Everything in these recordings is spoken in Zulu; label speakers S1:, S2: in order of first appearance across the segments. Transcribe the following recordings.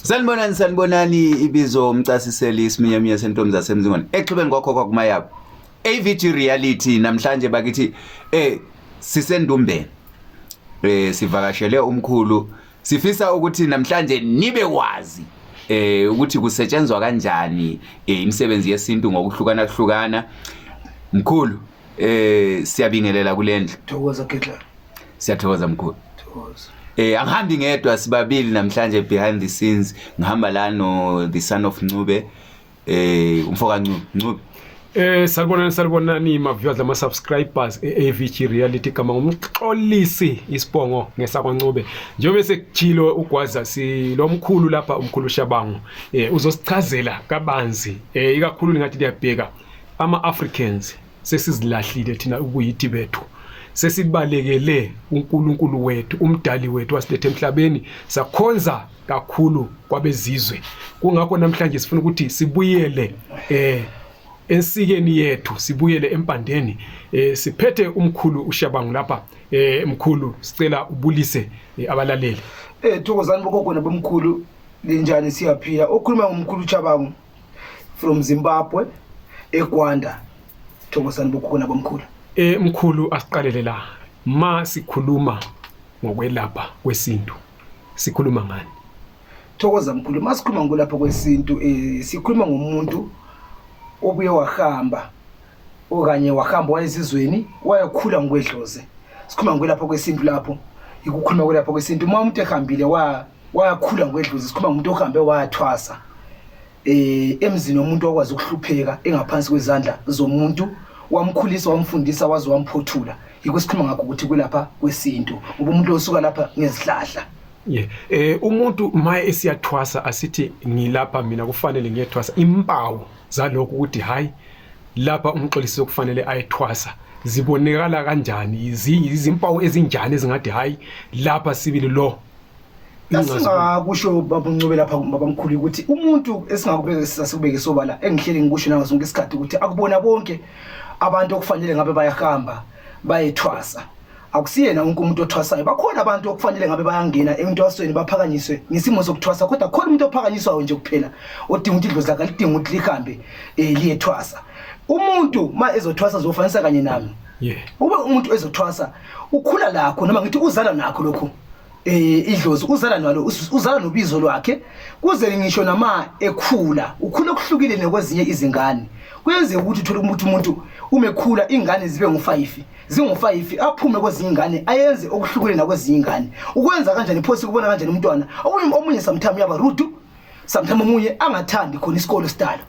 S1: Sanibonani sanibonani ibizo umcasiseli isiminyamiya sentombi zasemzingwane exhibeni kwakho kwakumayabo AVG reality namhlanje bakithi eh sisendumbeni eh sivakashele umkhulu sifisa ukuthi namhlanje nibe wazi eh ukuthi kusetshenzwa kanjani eh, imisebenzi yesintu ngokuhlukana kuhlukana mkhulu Eh siyabingelela kulendlu. Thokoza Gidla.
S2: Siyathokoza mkhulu.
S1: Thokoza. Eh
S2: angihambi ngedwa
S1: sibabili namhlanje behind the scenes ngihamba la no the son of Ncube eh umfoka Ncube Ncube Eh salibonani
S3: salibonani ma viewers ama subscribers eAVG Reality kama ngumxolisi isibongo ngesakwaNcube njengoba sekujilo ugwaza si lomkhulu lapha umkhulu Shabangu eh uzosichazela kabanzi eh ikakhulu ngathi liyabheka Ama-Africans sesizilahlile thina ubuyithi bethu sesibalekele uNkulunkulu wethu umdali wethu wasilethe emhlabeni sakhonza kakhulu kwabezizwe kungakho namhlanje sifuna ukuthi sibuyele eh ensikeni yethu sibuyele empandeni eh siphethe umkhulu ushabangu lapha eh mkhulu sicela ubulise eh, abalaleli eh thokozani
S2: bokogona bomkhulu linjani siyaphila okhuluma ngomkhulu ushabangu from zimbabwe egwanda thokozani bokhona bomkhulu eh mkhulu
S3: asiqalele la ma sikhuluma ngokwelapha kwesintu sikhuluma ngani thokoza
S2: mkhulu masikhuluma ngokulapha kwesintu eh sikhuluma ngomuntu obuye wahamba okanye wahamba wayezizweni wayakhula ngokwedloze sikhuluma ngokulapha kwesintu lapho ikukhuluma kwelapha kwesintu uma umuntu ehambile wa wayakhula ngokwedluza isikhuluma umuntu ohambe wayathwasa eh emzini womuntu okwazi ukuhlupheka engaphansi kwezandla zomuntu wamkhulisa wamfundisa waze wamphothula yikho sikhuluma ngakho ukuthi kulapha kwesintu ngoba umuntu osuka lapha ngezihlahla Yeah. Eh
S3: umuntu maye esiyathwasa asithi ngilapha mina kufanele ngiyethwasa impawu zalokho ukuthi hayi lapha umxolisi okufanele ayethwasa zibonekala kanjani izimpawu ezinjani ezingathi hayi lapha sibili lo
S2: Singakusho baba Ncube lapha baba mkhulu ukuthi umuntu esingakubeka sasibeke sobala engihlele ngikusho nazo zonke isikhathi ukuthi akubona bonke abantu okufanele ngabe bayahamba bayethwasa akusiyena wonke umuntu othwasayo bakhona abantu okufanele ngabe bayangena entwasweni baphakanyiswe ngesimo sokuthwasa kodwa khona umuntu ophakanyiswayo nje kuphela odinga ukuthi idlozi lakhe lidinga ukuthi lihambe um liyethwasa umuntu ma ezothwasa zofanisa kanye nami yeah. ube umuntu ezothwasa ukhula lakho noma ngithi uzala nakho lokhu eh idlozi uzala nalo uzala nobizo lwakhe kuze ngisho nama ekhula ukhula okuhlukile nekwezinye izingane kuyenzeka ukuthi uthole ukuthi umuntu umekhula ingane zibe ngufayifi zingufayifi aphume kwezinye ingane ayenze okuhlukile nakwezinye ingane ukwenza kanjani phosi kubona kanjani umntwana omunye omunye sometimes uyaba rude sometimes omunye angathandi khona isikole sidalo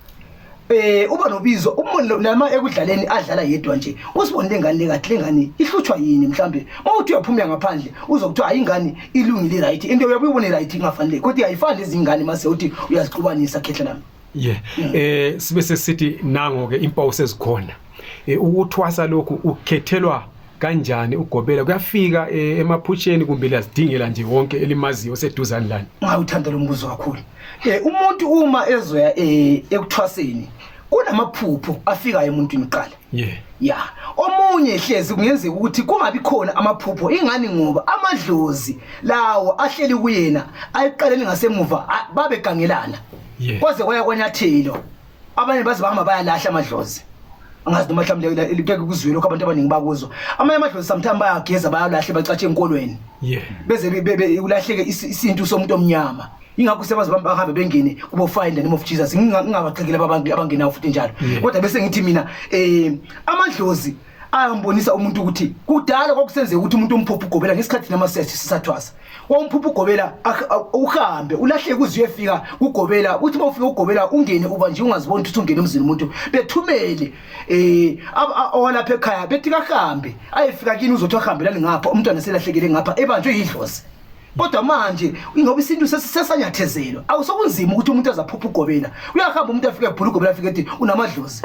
S2: eh uba nobizo umuntu nama ekudlaleni adlala yedwa nje usibonile ingane le kahle ingane ihlutshwa yini mhlambe mawuthi uyaphumela ngaphandle uzokuthiwa hayi ingane ilungile right into uyabuyibona right ingafanele kodwa ayifani izingane mase uthi uyaziqubanisa khehla lami yeah mm. eh
S3: sibe sesithi nango ke impawu sezikhona e, ukuthwasa lokhu ukhethelwa kanjani ugobela kuyafika e, emaphutsheni kumbe liyazidingela nje wonke elimaziyo oseduzane lani ngawuthanda lo mbuzo
S2: kakhulu um umuntu uma ezoya um ekuthwaseni kunamaphupho afikayo emuntwini kuqala yeah. ya omunye hlezi kungenzeka ukuthi kungabi khona amaphupho ingani ngoba amadlozi lawo ahleli kuyena ayiqaleni ngasemuva babegangelana yeah. kwaze kwaya kwanyathelo abanye baze bahamba bayalahla amadlozi angazi noma mhlawumbe likeke kuzwile lokho abantu abaningi bakuzwa amanye amadlozi sometimes bayageza bayalahle bacatshe enkolweni yeah beze ulahleke isintu somuntu omnyama ingakho sebaze bahambe bengene kubo find the name of Jesus ngingabaqhekela abantu abangenawo futhi njalo kodwa bese ngithi mina eh amadlozi ayambonisa umuntu ukuthi kudala kwakusenzeka ukuthi umuntu umphupha ugobela ngesikhathi thina masesthi sisathwasa wawumphupha ugobela ak- a- uhambe ulahleke uze uyefika kugobela uthi uma ufika ugobela ungene uba nje ungaziboni ukuthi ungene emzini umuntu bethumele eh ab- a- owalapha ekhaya bethi kahambe ayefika kini uzothi ahambelani ngapha umntwana selahlekele ngapha ebanjwe yidlozi kodwa manje ingoba isintu sesi- sesanyathezelwa awusokunzima ukuthi umuntu azaphupha ugobela uyahamba umuntu afike ebhula ugobela afike ethi unamadlozi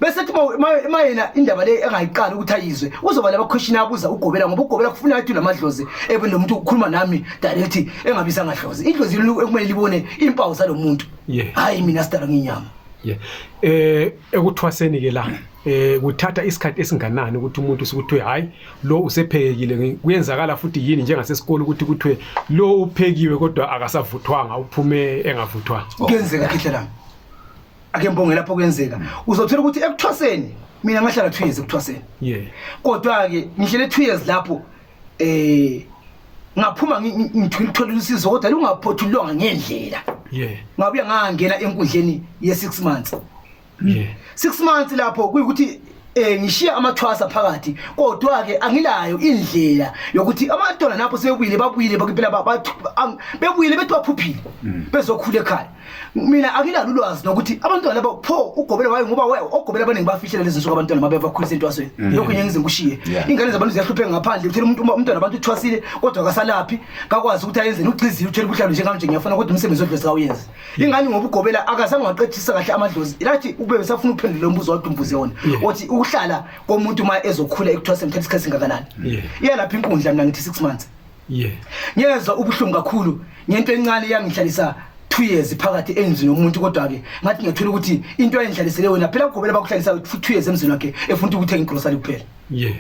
S2: bese thi uma yena indaba le engayiqali ukuthi ayizwe uzoba labakhweshini abuza ugobela ngoba ugobela kufuna athi lamadlozi ebe nomuntu ukukhuluma nami direct engabiza ngadlozi idlozi ekumele libone impawu zalo muntu hayi mina sidala nginyama yeah eh
S3: ekuthwaseni ke la eh kuthatha isikhathi esinganani ukuthi umuntu sikuthiwe hayi lo usephekile kuyenzakala futhi yini njengasesikole ukuthi kuthiwe lo uphekiwe kodwa akasavuthwanga uphume engavuthwanga kuyenzeka khehlelana
S2: ake mbonge lapho kuyenzeka uzothola ukuthi ekuthwaseni mina ngahlala 2 years ekuthwaseni yeah kodwa ke ngihlele 2 years lapho eh ngaphuma ngithula ukuthola usizo kodwa lungaphothulwanga ngendlela yeah ngabuya ngangena enkundleni ye 6 months yeah 6 months lapho kuyikuthi eh ngishiya amathwasa phakathi kodwa ke angilayo indlela yokuthi amadona napho sebuyile babuyile bakiphela bebuyile bethi baphuphile mm. bezokhula ekhaya mina anginalo ulwazi nokuthi abantwana laba pho ugobela wayo ngoba wewe ogobela abaningi bafihlela lezi nsuku abantwana mabe bakhulisa entwasweni mm. lokho ngiye ngize ngikushiye Yeah. ingane zabantu ziyahlupheka ngaphandle uthela umuntu umntwana abantu uthwasile kodwa akasalaphi kakwazi ukuthi ayenzeni ugxizile uthela ubuhlalo njengami nje ngiyafuna kodwa umsebenzi odlozi kawuyenze ingane ngoba ugobela akazange waqedisa kahle amadlozi lathi ukube besafuna ukuphendula lo mbuzo wadwa umbuze wona othi ukuhlala komuntu uma ezokhula ekuthwaseni kuthatha isikhathi singakanani Yeah. iyalapha inkundla mina ngithi six months yeah ngiyezwa ubuhlungu kakhulu ngento encane yangihlalisa 2 years phakathi endlini yomuntu kodwa ke ngathi ngiyathola ukuthi into ayendlalisele wena phela ugobela bakuhlalisa 2 years emzini wakhe efuna ukuthenga igrocery kuphela yeah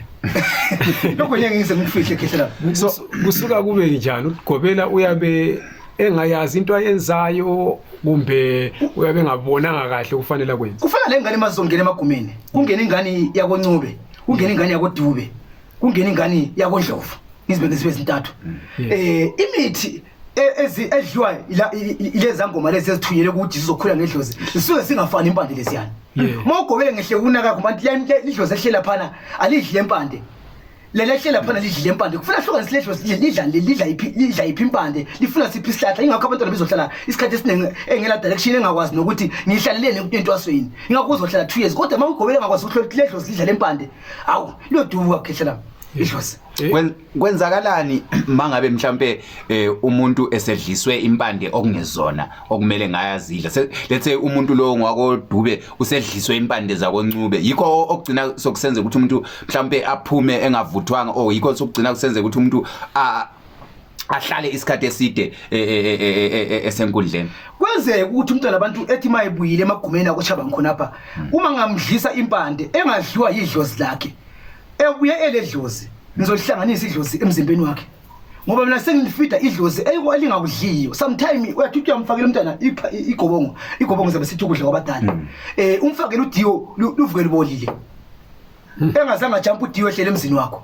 S2: lokho ngeke ngize ngifihle khehlela so kusuka
S3: kube njani ugobela uyabe engayazi into ayenzayo kumbe uyabe ngabonanga kahle kufanele kwenza kufana lengane mazongena
S2: emagumeni kungena ingane yakoncube kungena ingane yakodube kungena ingane yakondlovu ngizibeke zibe zintathu eh imithi e- ezi edliwa ila- i- i- ileza ngoma lezi ezithunyelwe ukuthi zizokhula ngedlozi zisuke singafani impande leziyana Yeah. uma ugobele ngehle kunaka kubantu ya- ya- idlozi ehlela phana alidli le mpande lele ehlela phana lidli le mpande kufuna hlukanise le dlozi lidla- lidla le- lidla iphi- lidla iphi impande lifuna siphi isihlahla ingakho abantwana bezohlala isikhathi esiningi engela direction engakwazi nokuthi ngihlaleleni entwasweni ingakho uzohlala two years kodwa uma ugobele engakwazi ukuthi le dlozi lidla le mpande awu loduka ukhehle lami idlozi Eh? Kwen- kwenzakalani
S1: mangabe mhlambe eh, umuntu esedliswe impande okungezona okumele ngayazidla Se- let's say umuntu lowo ngwakodube usedliswe impande zakoncube yikho o- okugcina sokusenza ukuthi umuntu mhlambe aphume engavuthwanga or yikho sokugcina kusenza ukuthi umuntu a- ahlale isikhathi eside e, e, e, esenkundleni kwenzeka
S2: ukuthi umntwana abantu ethi mayebuyile emagumeni akoshaba ngikhona pha hmm. uma ngamdlisa impande engadliwa yidlozi lakhe ebuye eledlozi ngizolihlanganisa idlozi emzimbeni wakhe ngoba mina sengilifida idlozi elingakudliyo sometime uyathi uyamfakela umntana igobongo igobongo zabe sithi ukudla kwabadala um umfakele udiwo luvuke lubolile hmm. engazange ajampa udiwo ehlele emzini wakho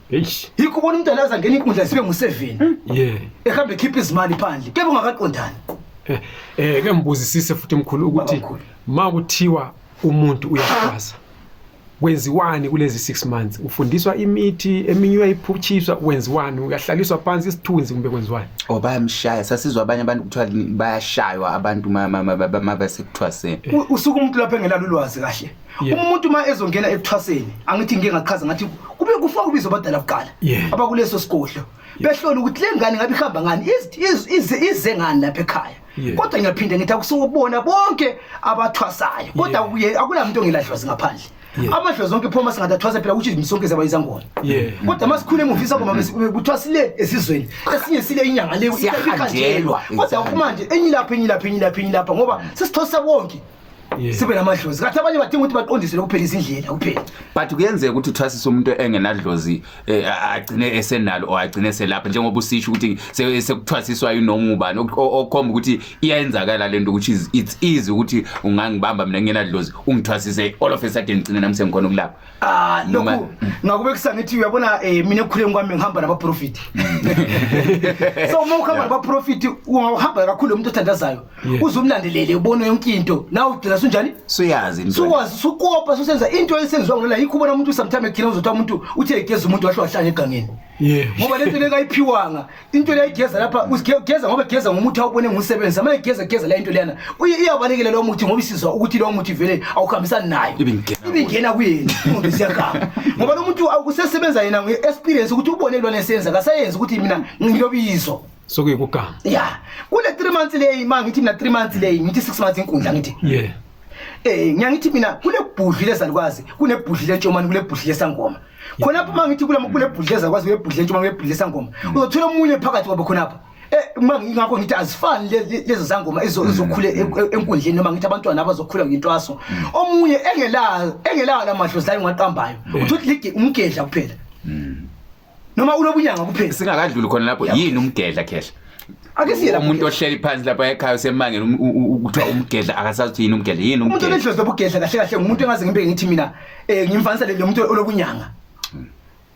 S2: Eish. Yikho ubona umuntu alaza ngena inkundla sibe ngu-7 Yeah. ehambe ekhipha izimali phandle kebe ungakaqondani Eh,
S3: eh ke ngibuzisise futhi mkhulu ukuthi Baba mkhulu. ma kuthiwa umuntu uyakwaza kwenziwani kulezi 6 months ufundiswa imithi eminye uyayiphutshiswa wenziwani uyahlaliswa phansi isithunzi kumbe kwenziwani or bayamshaya sasizwa
S1: abanye abantu kuthiwa ni- bayashaywa abantu ma- ma- ma- ma- ma- basekuthiwa se U- usuke umuntu
S2: lapho engenalo ulwazi kahle Yeah. umuntu uma ezongena ekuthwaseni angithi ngike ngachaza ngathi kube kufa ubizo abadala kuqala Yeah. abakuleso sigodlo behlola ukuthi le ngane ngabe ihamba ngani iz- iz- ize ize ngani lapha ekhaya Yeah. kodwa ngiyaphinde ngithi akusuwubona bonke abathwasayo kodwa Yeah. kuye akunamuntu ongeladlozi ngaphandle Yeah. amadlozi onke phoma singathi athwasa phela ukuthi izimsonke zabayizangona Yeah. kodwa uma sikhule emuva isangoma besi- kuthiwa sile esizweni esinye sile inyanga le Siyahanjelwa kodwa kumanje enye lapha enye lapha enye lapha enye lapha ngoba sesithwasa wonke sibe namadlozi kathi abanye badinga ukuthi baqondisele kuphela izindlela kuphela but kuyenzeka ukuthi
S1: uthwasisa umuntu engenadlozi eh, agcine esenalo or agcine eselapha njengoba usisho ukuthi sekuthwasiswa yinoma ubani okhomba ukuthi iyayenzakala lento ukuthi it's easy ukuthi ungangibamba mina ngenadlozi ungithwasise all of a sudden ngcine nami sengikhona ukulapha Ah lokhu Noma-
S2: ngakube kusangithi uyabona eh mina ekukhuleni kwami ngihamba nabaprofit. So uma uhamba nabaprofit ungahamba kakhulu umuntu othandazayo uzumlandelele ubone yonke into la ugcina sunjani? suyazi into Sukwazi
S1: sukopa
S2: susenza into esenziwa ngona yikho ubona umuntu sometimes ekhina uzothi umuntu uthe egeza umuntu wahle wahlanya egangeni. Yeah. Ngoba lento le kayiphiwanga. Into le igeza lapha usigeza ngoba igeza ngomuthi awubone ngumsebenzi. Ama igeza igeza la into lena. Uye iyabalekela lo muthi ngoba isizwa ukuthi lo muthi vele awukhambisani nayo. Ibingena. Ibingena kuyena. Umuntu siyakhala. Ngoba lo muntu awusesebenza yena nge experience ukuthi ubone lo nesenza kasayenza ukuthi mina ngilobizo. Sokuyikugama.
S3: Yeah. Kule
S2: 3 months leyi ma ngithi mina 3 months leyi ngithi 6 months inkundla ngithi. Yeah. Eh ngiyangithi mina kunebhudli lezalukwazi, kunebhudli lentshomani, kunebhudli lesangoma. khona phuma ngithi kula mukule bhudleza kwazi uyebhudle ntshumango yebhudle sangoma mm. uzothola omunye phakathi kwabo khona pha eh uma ngingakho ngithi azifani lezi zangoma izokhule e, e, enkundleni noma ngithi abantwana abazokhula ngintwaso mm. omunye engelayo engelayo lamadlozi layo ngaqambayo mm. uthi ligi umgedla kuphela noma unobunyanga kuphela singakadluli khona lapho
S1: yini umgedla khehla ake siye lapho umuntu
S2: ohleli phansi
S1: lapha ekhaya usemangele um- u- u- kuthiwa umgedla akasazi ukuthi yini umgedla yini umuntu umgedla onedlozi lobugedla
S2: kahle kahle ngumuntu engaze ngibeke ngithi mina um ngimfanisa le muntu olokunyanga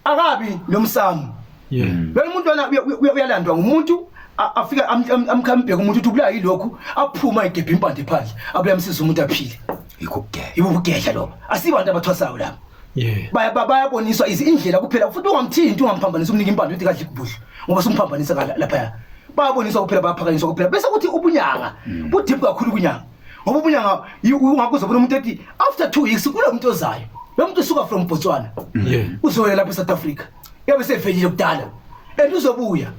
S2: akabi lo msamu yeah lona umuntu lona uya- uya- uyalandwa ngumuntu a- afike am- am- amkhambheke umuntu ukuthi ubulawa yilokhu aphuma egebhe impande phandle abuye amsiza umuntu aphile yikho ukugedla yibo ubugedla lobo asibantu abathwasayo labo Yeah. Baya ba- bayaboniswa izi- indlela kuphela futhi ungamthinti ungamphambanisa umnika impande uthi kadli kubudla ngoba simphambanisa ngala- laphaya. Bayaboniswa kuphela bayaphakanyiswa kuphela bese kuthi ubunyanga budip kakhulu kunyanga. Ngoba ubunyanga yi- ungakuze bona umuntu ethi after 2 weeks kulo muntu ozayo. Lo muntu usuka from Botswana. Yeah. Uzoya lapha eSouth Africa. Yabe sevelile kudala. And uzobuya.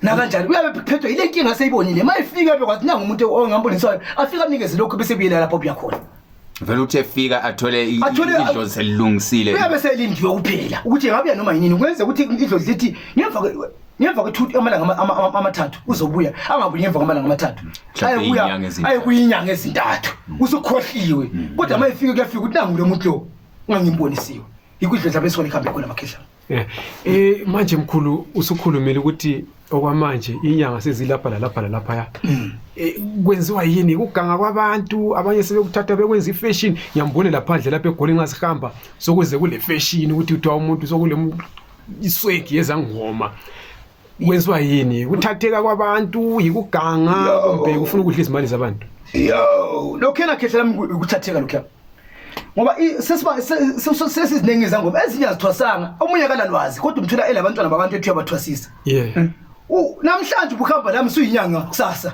S2: nakanjani uyabe phethwe yile nkinga aseyibonile uma efika bekwathi nangu umuntu ongambonisayo afike amnikeze lokhu bese buyela lapho obuya khona vele uthe
S1: fika athole i- Athole- i- idlozi selilungisile uyabe selindiwe
S2: kuphela ukuthi engabuya noma yinini kwenze ukuthi idlozi lithi ngemva kwe- ngemva kwethuthi amalanga ama- ama- ama- amathathu uzobuya angabuyi ngemva kwamalanga amathathu Mhlawumbe Ayebuya- iyinyanga ezintathu. ayekuyinyanga ezintathu usukhohliwe kodwa uma efike kuyafika ukuthi nangu lo muntu lo ungangimbonisiwe yikho idlozi abe sona ekuhambe khona amakhedlana Eh, eh
S3: manje mkhulu usukhulumile ukuthi okwamanje inyanga sezilapha lalapha lalaphaya mm. eh, kwenziwa yini ukuganga kwabantu abanye sebekuthatha bekwenza ifashion ngiyambone laphandle lapha egoli ngasihamba sokuze kule fashion ukuthi kuthiwa umuntu sokule iswegi yezangoma kwenziwa yini ukuthatheka kwabantu yikuganga Yo. kumbe ukufuna ukudla izimali zabantu yo
S2: lokhena khehla lami ku- ukuthatheka lokhuya ngoba i- sesiba- se- se- se- sesiziningi izangoma ezinye azithwasanga omunye akalalwazi kodwa umthola elabantwana babantu ethiwa bathwasisa yeah U- namhlanje ubuhamba lami suyinyanga kusasa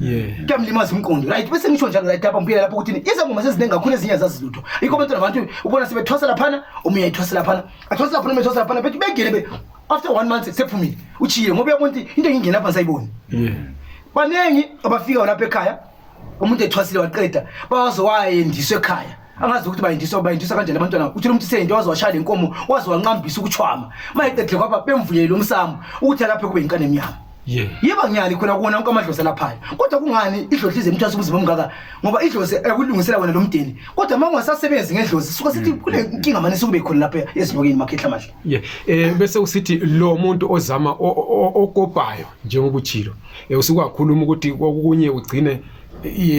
S2: Yeah. Kuyamlimaza umqondo. Right, bese ngisho njalo right lapha ngibuyela lapho ukuthi izangoma seziningi kakhulu ezinye zazilutho. Ikho abantu nabantu ubona sebethwasa laphana, omunye ayithwasa laphana. Athwasa laphana, omunye athwasa laphana, bethi bengene be after one month sephumile. Uchiye ngoba uyabona ukuthi into engingena lapha sayiboni. Yeah. Baningi abafika lapha ekhaya umuntu ethwasile waqeda bawaze wayendiswa ekhaya. angazi ukuthi bayindisa bayindisa kanjani abantwana uthile umuntu seyinto waze washaya le nkomo waze wanqambisa ukuchwama mayeqedile kwaba bemvuyele umsamo ukuthi alaphe kube yinkane emnyama ye yeba ngiyani khona kuwona wonke amadlozi alaphayo kodwa kungani idlozi lize imthwasa ubuzima omngaka ngoba idlozi ekulungisela wena lo mdeni kodwa uma ungasasebenzi ngedlozi suka sithi mm. kule nkinga mane sukube khona lapha ezinyokeni makhehla amahle ye eh bese usithi
S3: lo muntu ozama o- o- o- okopayo njengoba uchilo eh, usukakhuluma ukuthi kokunye ugcine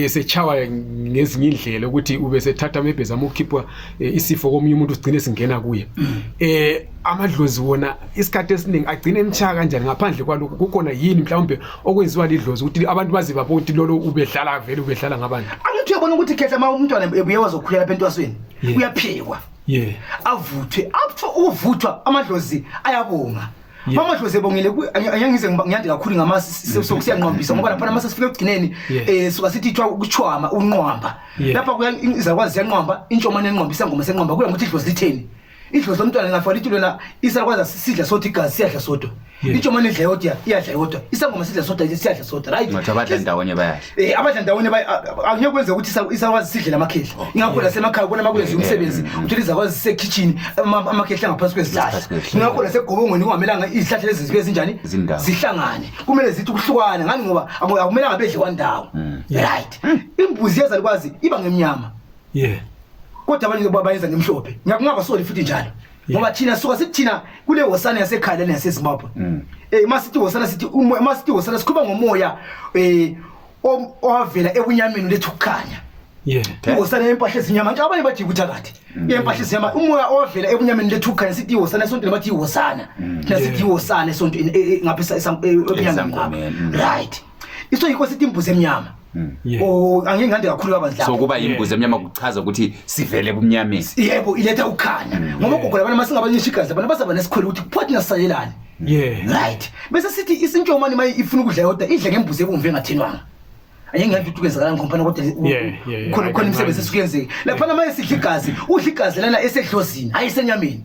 S3: sechawa ngezinye indlela ukuthi ube sethatha maybe zama ukukhipha eh, isifo komunye umuntu sigcine singena kuye mm. eh amadlozi wona isikhathi esiningi agcine emchaya kanjani ngaphandle kwalokho kukhona yini mhlawumbe okwenziwa lidlozi ukuthi abantu baze babone ukuthi lolo ubedlala vele ubedlala ngabantu angithi uyabona ukuthi khehla
S2: uma umntwana ebuye wazokhuyela lapha entwasweni uyaphikwa yeah avuthwe up to uvuthwa amadlozi ayabonga Yeah. Mama Dloze bongile angize ngiyande kakhulu ngama sokusiyanqwambisa ngoba lapha mase sifike ekugcineni eh suka sithi ithwa ukuchwama unqwamba lapha kuya izakwazi yanqwamba intshomane enqwambisa ngoma senqwamba kuya ngokuthi Dloze litheni idlo somntwana ngafala ithi lona isakwazi sidla sodwa igazi siyadla sodwa intshomane idla yodwa iyadla yodwa isangoma sidla sodwa siyadla sodwa right ngathi abadla ndawonye bayadla
S1: Eh abadla ndawonye bayi- a-
S2: a- angeke kwenze ukuthi isa- isakwazi sidle lamakhehla ingakho lasemakhaya ubona uma kwenziwa umsebenzi uthola izakwazi zisekhitshini ama- amakhehla angaphansi kwezihlahla Ngaphansi kwezihlahla. ingakho lasegobongweni kungamelanga izihlahla lezi zibe zinjani Zindawo. zihlangane kumele zithi ukuhlukana ngani ngoba aku- akumelanga bedle kwandawo right imbuzi yezalukwazi iba ngemnyama yeah kodwa abanye ba- bayenza ngemhlophe ngiyakungabasoli futhi njalo ngoba thina suka sithi thina kule hosana yasekhaya lena yasezimbabwe um uma sithi hosana sithi uma sithi hosana sikhuluma ngomoya um owavela ebunyameni lethu ukukhanya ihosana yempahla ezinyama nje abanye bathi yikuthakathi mm. yempahla ezinyama umoya ovela ebunyameni lethu khanya sithi ihosana esontweni bathi ihosana mm. thina sithi ihosana esontweni e, e, ngapha ebunyameni right iso yikho sithi imbuzi emnyama Yeah. oh angeke ngande kakhulu kabanzi so lapho kuba yimbuzi emnyama
S1: kuchaza ukuthi sivele ebumnyameni yebo iletha
S2: ukukhanya ngoba ugogo labana masingabancisha igazi abantu basaba nesikhwele ukuthi kuphothi nasalelani Yeah. right bese sithi isintshomane uma ifuna ukudla yodwa idle ngembuzi ebomvu engathinwanga angeke ngande ukuthi kwenzakalani ngompana kodwa u- Yeah, yeah, yeah. khona I khona can imisebenzi imagine. esukuyenzeka laphana manje sidla igazi udla igazi lana esedlozini hayi esenyameni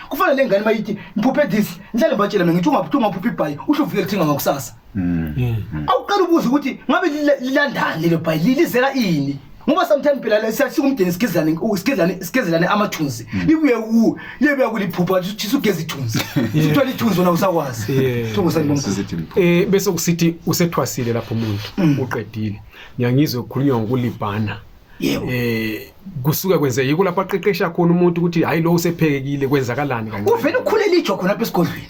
S2: kufana le ngane mayithi ngiphuphe this ngihlale ngibatshela mina ngithi ungaphuphi ungaphuphi ibhayi usho uvike lithenga ngakusasa awuqala ukubuza ukuthi ngabe lila- lilandani lelo bhayi li- lizela ini ngoba sometimes phela le- siya- sikumdeni sigezane u- sigezane- sigezelane amathunzi libuye ku libuye kuliphupha ukuthi sugeza ithunzi sithola ithunzi wona usakwazi Yeah. thungu sanibonga Sizithi mkhulu.
S3: Eh bese kusithi usethwasile lapho umuntu uqedile. Ngiyangizwe ukukhulunywa ngokulibhana. yebo eh kusuke kwenzeka yiko lapho aqeqesha khona umuntu ukuthi hayi lo usephekekile kwenzakalani kanti uvele ukhulela ijo khona
S2: lapha esigodlweni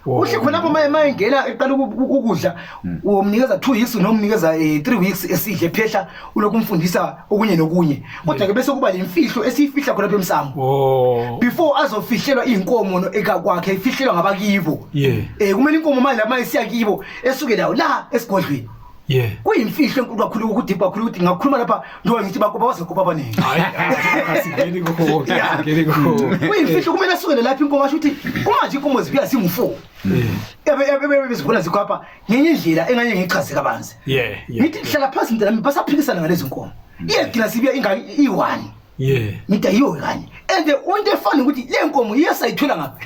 S2: Wow. uhle khona lapho maye maye ngena eqala uku- uku- ukudla umnikeza 2 weeks noma umnikeza 3 weeks esidle phehla ulokhu umfundisa okunye nokunye kodwa ke bese kuba lemfihlo esiyifihla khona lapha emsamo oh before azofihlelwa inkomo no- eka kwakhe ifihlelwa ngabakibo Yeah. eh kumele inkomo manje lama isiya kibo esuke lawo la esigodlweni Yeah. kuyimfihlo enkulu kakhulu ukuthi kakhulu ukuthi ngakhuluma lapha njengoba ngithi bakuba bazokuba abaningi Hayi, asingeni
S3: kuko. Yeah. Asingeni kuko.
S2: kuyimfihlo kumele asukele lapha inkomo asho ukuthi uma nje inkomo zibuya zingu-four bezibona zikhwapha ngenye indlela enganye ngichaze kabanzi Yeah, yeah. ngithi hlala phansi mntanami basaphikisana ngalezi nkomo iyagcina sibuya ingane iyi-one Yeah. Ngidayiwe kanye. And the only fun ukuthi le nkomo iyasayithola ngapha.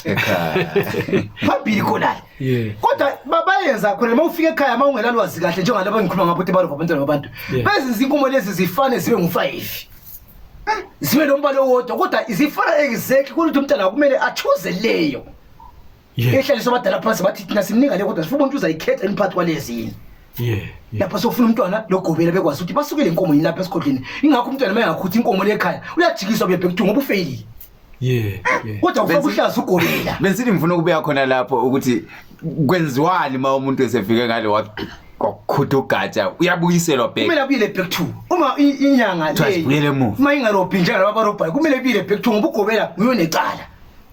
S2: Ekhaya. Phambili khona. Yeah. Kodwa babayenza khona uma ufika ekhaya uma ungelalwazi kahle njengalabo engikhuluma ngabo ukuthi balova abantwana babantu. Yeah. Bezinza inkomo lezi zifane zibe ngu-5. Eh, Zibe nombala owodwa kodwa izifana exactly kuthi umntana kumele achuze leyo. Yeah. ehlalisa abadala phansi bathi thina simninga le kodwa sifuna umuntu uzayikhetha imphakathi kwalezi yini Yeah. yeah. lapha sofuna umntwana logobela bekwazi ukuthi basukele inkomo yini lapha esigodleni ingakho umntwana uma engakhuthi inkomo lekhaya uyajikiswa bebhe kuthiwa ngoba ufeyilile Yeah. Yeah. kodwa ufake Benzi- uhlaza ugobela Bensini ngifuna ukubuya khona
S1: lapho ukuthi kwenziwani uma umuntu esefike ngale wakhutha ugatsha uyabuyiselwa back. kumele abuyele back to
S2: uma i- inyanga Kuthiwa sibuyele emuva. uma
S1: ingarobhi
S2: njengalaba barobhayo kumele abuyele back to ngoba ugobela uyonecala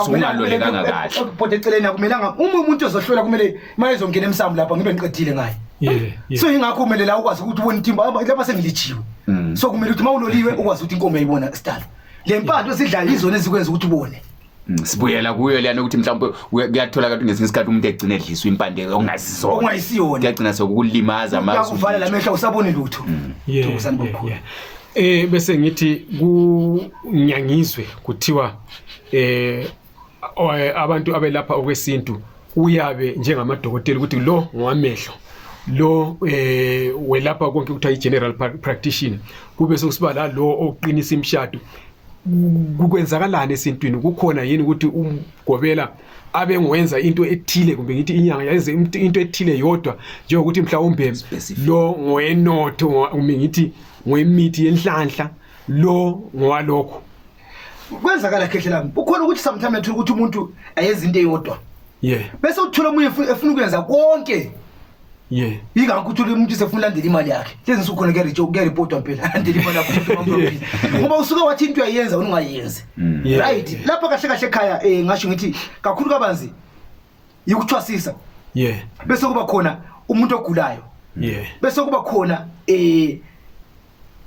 S1: usungalolekanga kahle bhode eceleni akumelanga
S2: uma umuntu ezohlola kumele imali ezongena emsamu lapha ngibe ngiqedile ngayo so ingakho kumele la ukwazi ukuthi ubone itimba lapha sengilijiwe mm. so kumele ukuthi uma uloliwe ukwazi ukuthi inkomo yayibona sidala le mpatho esidlayo izona ezikwenza ukuthi ubone mm, sibuyela kuyo
S1: leyana ukuthi mhlawumbe kuyatholakala ukuthi ngesinye isikhathi umuntu egcina edliswa impande okungazisona okungayisiyona
S2: kuyagcina sokukulimaza
S1: amakuvala la mehla
S2: usabone lutho mm. thokozani bokhulu Eh
S3: bese ngithi kunyangizwe kuthiwa eh abantu abelapha okwesintu uyabe njengamadokotela ukuthi lo ngowamehlo lo eh welapha konke kuthiwa i-general practitioner kube sokusiba la lo oqinisa imishado kukwenzakalani esintwini kukhona yini ukuthi umgobela abe ngwenza into ethile kumbe ngithi inyanga yenze into ethile yodwa njengokuthi mhlawumbe lo ngoyenotho kumbe ngithi ngoyimithi yenhlanhla lo ngowalokho kwenzakala
S2: khehle lami ukhona ukuthi sometimes athola ukuthi umuntu ayenza into eyodwa ye bese uthola omunye efu- efuna ukuyenza konke ye yingakho uthole umuntu sefuna ulandela imali yakhe lezi nsuku khona kuyarejwa- kuyarepotwa mpela landela imali yakho umuntu wamphambili. ngoba usuke wathi into uyayenza ungayenzi Yeah. right lapha kahle kahle ekhaya um ngasho ngithi kakhulu kabanzi yokuthwasisa yeah bese kuba khona umuntu ogulayo yeah bese kuba khona eh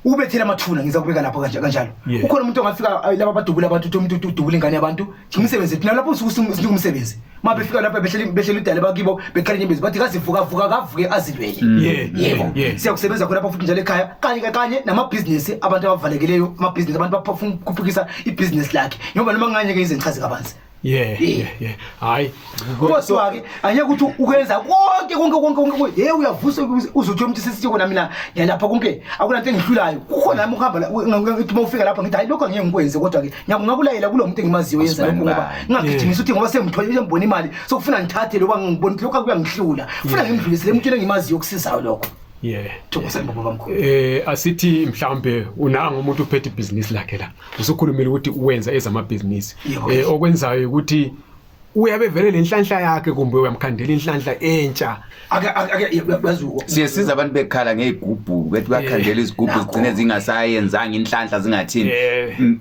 S2: ubethela amathuna ngiza kubeka lapho kanje kanjalo Yeah. ukhona umuntu ongafika ay, laba badubula abantu uthi umuntu uthi udubula ingane yabantu ngimsebenzi thina lapho usuku sinika umsebenzi uma befika lapha behleli behleli idale bakibo beqala inyembezi bathi kazivuka vuka kavuke azilwele Yeah, yebo yeah, yeah. siyakusebenza khona lapho futhi njalo ekhaya kanye kanye namabhizinisi abantu abavalekeleyo amabhizinisi abantu bafuna ukuphukisa ibhizinisi lakhe njengoba noma nganye ke izenchazi kabanzi Yeah, yeah,
S3: yeah. Hayi. Kodwa
S2: ke anye ukuthi ukwenza konke konke konke konke. Hey uyavusa uzothi umuntu sesithi kona mina ngiyalapha konke. Akuna into engihlulayo. Kukhona nami ukuhamba ngithi uma ufika lapha ngithi hayi lokho ngeke ngikwenze kodwa ke ngiyakulayela kulo muntu engimaziyo yenza lokho ngoba ngingagijimisa ukuthi ngoba sengithole sengibona imali sokufuna ngithathe lokho ngibona lokho akuyangihlula. Ufuna ngimdlulise le muntu engimaziyo okusizayo lokho. Yeah. Thokoza baba bamkhulu. Eh asithi
S3: mhlambe unanga umuntu uphethe ibhizinisi lakhe la. usukhulumile ukuthi wenza ezamabhizinisi eh okwenzayo ukuthi uyabe vele lenhlanhla yakhe kumbe uyamkhandela inhlanhla entsha ake ake bazuko
S1: siyesiza abantu bekhala ngezigubhu bethi bakhandela eh, izigubhu zigcine zingasayenzanga inhlanhla zingathini eh. mm.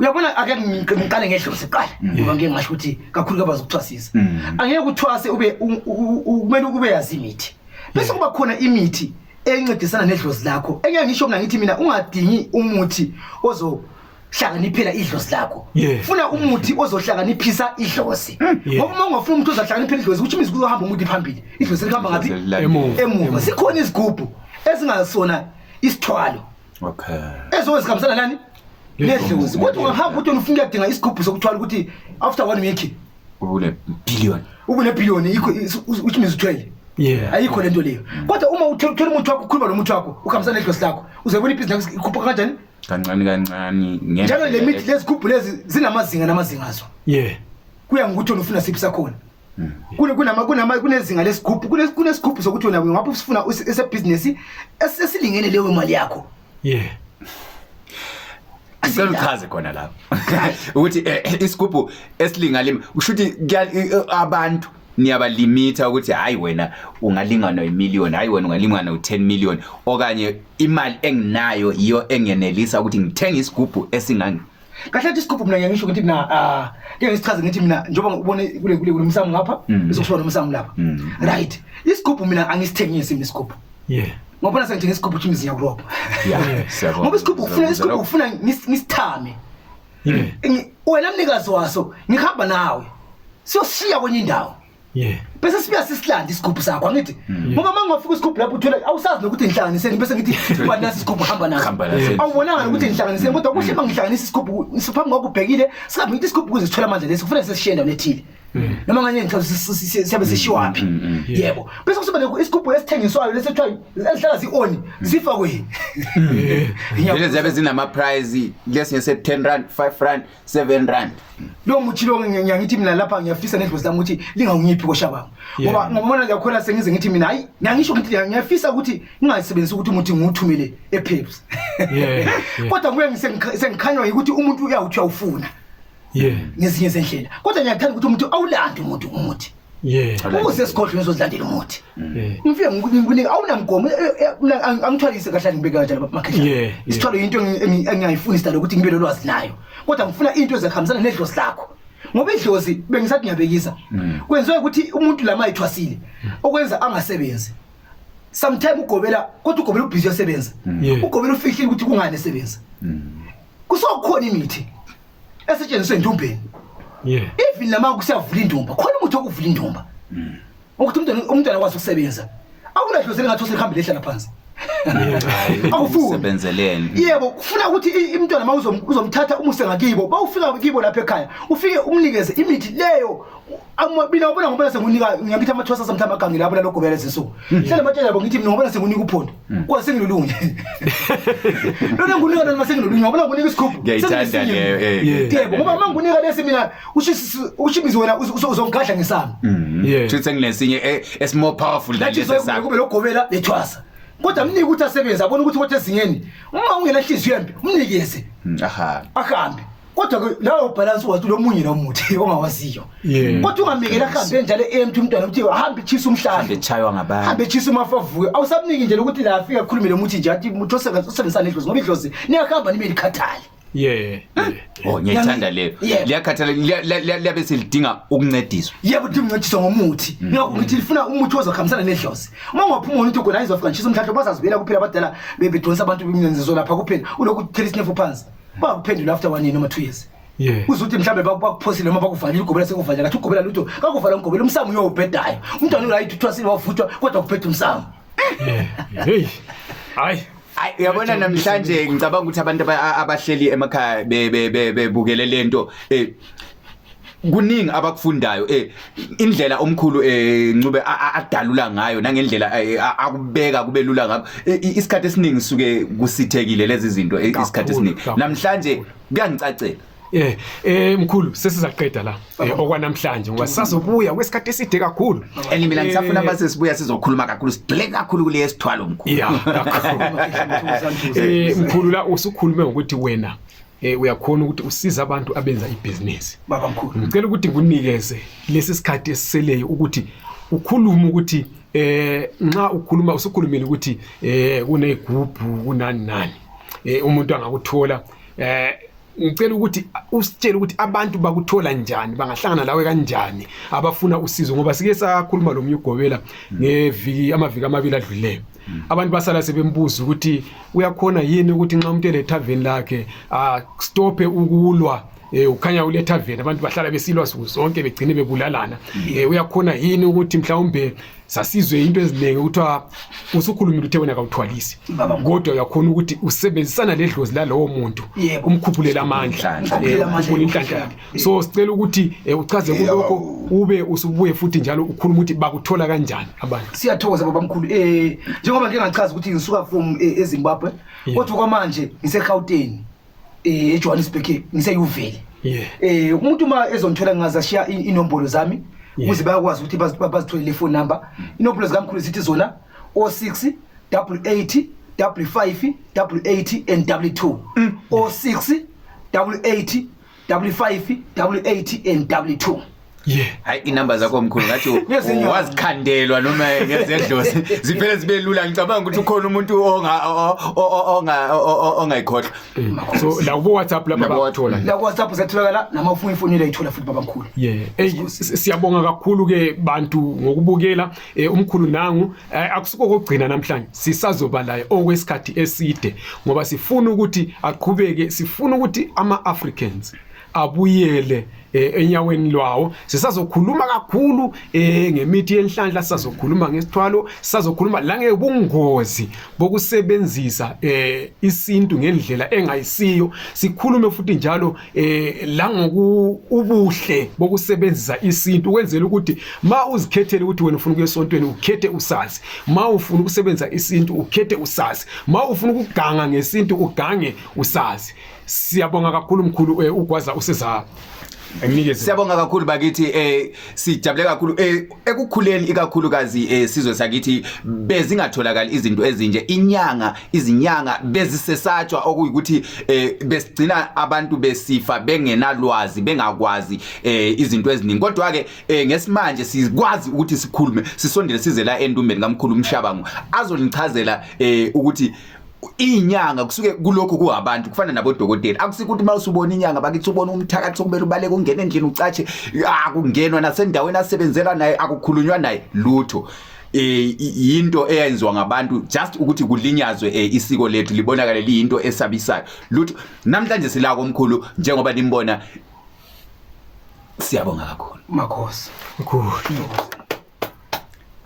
S2: uyabona ake ngiqale ngedlozi siqala mm. ngoba ngeke ngasho ukuthi kakhulu kabazi ukuthwasisa mm. angeke uthwase ube kumele ukube yazi imithi bese kuba khona imithi encedisana nedlozi lakho engangisho mina ngithi mina ungadingi umuthi ozo hlakaniphela idlozi lakho Yeah. funa umuthi ozohlakaniphisa idlozi Yeah. ngoba uma ungafuna umuthi ozohlakaniphela idlozi ukuthi imizi kuzohamba umuthi phambili idlozi lihamba ngaphi Emuva. emuva sikhona izigubhu ezingasona isithwalo okay
S1: ezobe zihambisana nani
S2: nedlozi kodwa ungahamba ukuthi ufuna ukuyadinga isigubhu sokuthwala ukuthi after one week ubule
S1: billion ubule billion ikho
S2: which means uthwele yeah ayikho lento leyo mm. kodwa uma uthola umuthi wakho ukhuluma lomuthi wakho ukhambisana nedlosi lakho uzebona ibhizinisi ikhupha kanjani kancane kancane
S1: njalo le mithi
S2: lezi gubhu lezi zinamazinga namazinga azo yeah kuya ngokuthi wena ufuna siphi sakhona mm. kune kunama kunama kunezinga lesigubhu kunesigubhu sokuthi wena ngapha usifuna esebhizinisi esilingene leyo mali yakho Yeah.
S1: Sicela uchaze khona lapho ukuthi eh, eh, isigubhu esilingalima usho ukuthi kuya- i- i- abantu niyabalimitha ukuthi hayi wena ungalingana imillion hayi wena ungalingana u10 million okanye imali enginayo yiyo engenelisa ukuthi ngithenge isigubhu esingangi kahle athi isigubhu
S2: mina ngisho ukuthi mina ah ke ngisichaze ngithi mina njengoba ubone kule kule kulomsamo ngapha Mm. bese kushiwa nomsamo lapha Mm. right isigubhu mina angisithengisi mina isigubhu yeah ngobona sengithenga isigubhu ukuthi imizi yakurobha ya siyabona ngoba isigubhu ufuna isigubhu ufuna ngis- ngisithame yeah Ngi- wena mnikazi waso ngihamba nawe siyoshiya kwenye indawo Yeah. Bese sibuya sisilande isigubhu sakho angithi Mm. ngoba mangofika isigubhu lapho uthola awusazi nokuthi ngihlanganiseni bese ngithi ubani nasi isigubhu hamba naso. Hamba naso. Mm. Awubonanga nokuthi ngihlanganiseni kodwa kuhle mangihlanganisa isigubhu siphambi kwakho ubhekile singabe ngithi isigubhu kuze sithole amandla lesi kufanele sesishiye endaweni ethile. Mm. Noma nganye ngicela si- si- si- siyabe sishiwaphi. Yebo. Bese kusuba ne- isigubhu esithengiswayo lesi kuthiwa esihlala si-on sifakweni.
S1: Vele ziyabe zinama prize lesinye se 10 rand 5 rand 7 rand lo muthi lo
S2: ngiyangithi mina lapha ngiyafisa nedlozi lami ukuthi lingawunyiphi kosha kwami ngoba ngibona lakhona sengize ngithi mina hayi ngiyangisho ukuthi ngiyafisa ukuthi ngingayisebenzisi ukuthi umuthi ngiwuthumele ePeps kodwa kuye sengikhanywa ukuthi umuntu uyawuthi awufuna yeah ngezinye zendlela kodwa ngiyathanda ukuthi umuntu awulande umuntu umuthi Yeah. Ukuze sikhohlwe ngizodlandela umuthi. Yeah. Ngifike ngikunika awunamgomo angithwalise kahle ngibeka kanjalo baba makhehla. Yeah. Isithwalo into engiyayifuna isitalo ukuthi ngibe lolwazi nayo. Kodwa ngifuna into ezakhambisana nedlozi lakho. Ngoba idlozi bengisathi ngiyabekisa. Mm. Kwenziwe ukuthi umuntu lama ayithwasile mm. okwenza angasebenzi. Sometimes ugobela kodwa ugobela ubhizi yosebenza. Mm. Ugobela ufihlile ukuthi kungani esebenza. Kusokhona imithi. esetshenziswe endumbeni yeah even nama kusiyavula indumba khona umuntu okuvula indumba mm. ukuthi umntwana umntwana kwazi ukusebenza awunadlozele ngathi usehambe lehlala phansi awufuni
S1: sebenzeleni yebo kufuna ukuthi
S2: imntwana mawuzomthatha umuse ngakibo bawufika kibo lapha ekhaya ufike umnikeze imithi leyo Amabili awubona ngoba sengunika ngiyakithi amathwasa samthama agangi lapho lalo gobela lezinsuku. Hmm. Hlale matshela yabo ngithi mina ngoba sengunika uphondo. Hmm. Kwa sengilolunye. Lona ngunika lona sengilolunye ngoba ngunika isikhubu. Ngiyayithanda leyo
S1: eh. Yebo ngoba uma ngunika
S2: lesi mina ushisi ushimizi wena uzongigadla ngesami. Hmm. Yeah. Futhi senginesinye
S1: eh, is more powerful than lesi sakho. Kube logobela lethwasa.
S2: kodwa mnike ukuthi asebenze abone ukuthi kodwa ezingeni uma ungenahliziyo embi umnikeze hmm, ahambe ahambe kodwa ke lawo ubhalansi wathi ulomunye nomuthi ongawaziyo Yeah. kodwa ungamekela ahambe njalo emthi umntwana ukuthi hambe chisa umhlahla Ngechaywa ngabantu. hambe
S1: chisa umafavuyo
S2: awusamniki nje lokuthi la afika akhulume lomuthi nje athi muthi osebenzisana idlozi ngoba idlozi niyahamba nibe likhathali yeah yeah
S1: Oh ngiyayithanda leyo. Yeah. Liyakhathala liya- liya- liya- liyabe selidinga ukuncediswa. yebo ukuthi mncediswa
S2: ngomuthi Mm. ngakho ngithi lifuna umuthi ozokhambisana nedlozi uma ungaphuma wona ukuthi ugona izofika ngishisa umhlahla bazazibuyela kuphela abadala be- bedonsa abantu bemnenzizwe lapha kuphela ulokhu uthela isinefu phansi bangakuphendula after one year noma two years Yeah. uzuthi mhlawumbe baku- bakuphosile noma bakuvalile ugobela sekuvalile kathi ugobela lutho kakuvala umgobela umsamo uyowubhedayo umntwana urayithi uthwasile wavuthwa kodwa kuphetha umsamo Hey.
S3: Hayi. Ay, uyabona
S1: namhlanje ngicabanga ukuthi abantu aba- a- abahleli emakhaya be- be- be- bebukele lento eh, kuningi abakufundayo eh indlela omkhulu eh ncube adalula ngayo nangendlela eh, akubeka kube lula ngakho eh, isikhathi esiningi suke kusithekile lezi zinto eh, isikhathi esiningi namhlanje kuyangicacela Eh eh
S3: mkhulu sesizaqeda la eh, okwanamhlanje ngoba sazobuya kwesikhathi eside kakhulu. And mina ngisafuna base
S1: eh, sibuya sizokhuluma kakhulu sidile kakhulu kule esithwalo mkhulu. Yeah kakhulu.
S3: Eh mkhulu la usukhulume ngokuthi wena eh uyakhona ukuthi usiza abantu abenza ibhizinisi baba mkhulu ngicela
S2: ukuthi kunikeze
S3: lesi sikhathi esiseleyo ukuthi ukhulume ukuthi eh nxa ukhuluma usukhulumile ukuthi eh kunegubhu kunani nani eh umuntu angakuthola eh ngicela ukuthi usitshele ukuthi abantu bakuthola njani bangahlangana lawe kanjani abafuna usizo ngoba sike sakhuluma lo myugobela ngeviki amaviki amabili adluleyo Mm. abantu basala sebembuza ukuthi uyakhona yini ukuthi nxa umuntu elethaveni lakhe astophe ah, ukulwa eh ukhanya uletha vele abantu bahlala besilwa suku zonke begcine bebulalana mm. eh uyakhona yini ukuthi mhlawumbe sasizwe into eziningi ukuthiwa usukhulumile uthe wena kawuthwalisi kodwa uyakhona ukuthi usebenzisana ledlozi lalowo muntu umkhuphulele amandla eh, umkhuphule inhlanhla yakhe so sicela ukuthi eh, uchaze kulokho ube usubuye futhi njalo ukhuluma ukuthi bakuthola kanjani abantu siyathokoza baba mkhulu
S2: eh njengoba ngike ngachaza ukuthi ngisuka from eh, eZimbabwe kodwa kwamanje ngiseGauteng eh eJohannesburg ngiseyuveli eh umuntu uma ezonthola ngaza shiya inombolo zami ukuze bayakwazi ukuthi bazitholele phone number inombolo zikamkhulu zithi zona 06 88 55 88 and 2 06 88 W5 W8 and W2 Yeah. Hayi
S1: inamba zakho mkhulu ngathi Ngezinyawo. wazikhandelwa noma ngezedlozi ziphele zibe lula ngicabanga ukuthi ukhona umuntu onga o- o- o- onga o- o- ongayikhohlwa. So la
S3: kubo WhatsApp lapha Labo- bathola. la kuwhatsapp satholakala
S2: namafoni ifonile ayithola futhi babamkhulu Yeah. Ey siyabonga
S3: kakhulu ke bantu ngokubukela eh, umkhulu nangu eh, akusiko kokugcina namhlanje sisazoba laye okwesikhathi eside ngoba sifuna ukuthi aqhubeke sifuna ukuthi ama Africans abuyele eh, enyaweni lwawo sisazokhuluma kakhulu eh, ngemithi yenhlanhla sisazokhuluma ngesithwalo sisazokhuluma la ngebungozi bokusebenzisa eh, isintu ngendlela engayisiyo sikhulume futhi njalo eh la ngoku ubuhle bokusebenzisa isintu kwenzela ukuthi ma uzikhethele ukuthi wena ufuna ukuyesontweni ukhethe usazi ma ufuna ukusebenzisa isintu ukhethe usazi ma ufuna ukuganga ngesintu ugange usazi siyabonga kakhulu mkhulu eh, ugwaza useza
S1: Siyabonga kakhulu bakithi eh sijabule kakhulu eh ekukhuleni ikakhulukazi eh, sizwe sakithi bezingatholakali izinto ezinje inyanga izinyanga bezisesatshwa okuyikuthi eh, besigcina abantu besifa bengenalwazi bengakwazi eh, izinto eziningi kodwa ke eh, ngesimanje sikwazi ukuthi sikhulume sisondele size la endumbeni kamkhulu umshabango azonichazela eh, ukuthi inyanga kusuke kulokhu kuhabantu kufana nabodokotela akusike ukuthi mawusubona inyanga bakithi ubona umthakathi okumele ubaleke ungene endlini ucatshe akungenwa nasendaweni asebenzela naye akukhulunywa naye lutho eh into eyenziwa ngabantu just ukuthi kulinyazwe eh, isiko lethu libonakale liyinto esabisayo lutho namhlanje sila komkhulu njengoba nimbona siyabonga kakhulu
S3: makhosi
S1: mkhulu